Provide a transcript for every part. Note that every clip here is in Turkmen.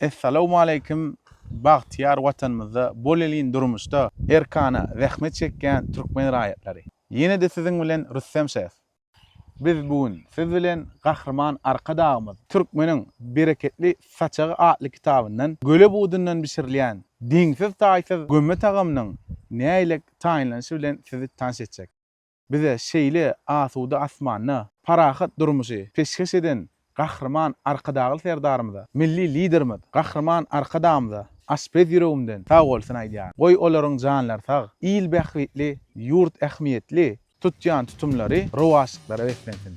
Essalawmaleýkim bagtyýar watanymyzda bolelin durmuşda erkana zähmet çekýän türkmen raýatlary. Ýenede siziň bilen Rüstem şef. Biz bu gün siz bilen Gahryman Arkadagymyz Türkmeniň bereketli saçagy atly kitabyndan göle budundan bişirilýän deňsiz-taýsyz gömme tagamynyň nägilek taýynlanyşy bilen sizi tanyş etjek. Bize şeýle asuda asmanda parahat durmuşy peşgeş eden Gahryman Arkadagly Serdarymyza, Milli Liderimiz Gahryman Arkadagymyza aşpez ýüregimden sagbolsun aýdýaryn. Goý olaryň janlary sag, il bähbitli, ýurt ähmiýetli tutýan tutumlary rowaçlyklara beslensin!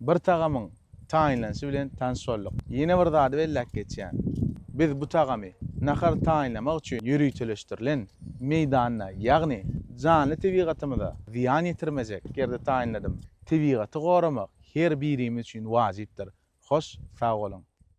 Bir tagamyň taýynlanyşy bilen tanyş bolduk. Ýene bir zady belläp geçýän. Biz bu tagamy nahar taýynlamak üçin ýöriteleşdirilen meýdanda, ýagny janly tebigatymyza zyýan ýetirmejek ýerde taýynladym. Tebigaty goramak her birimiz üçin wajypdyr. Hoş sag boluň!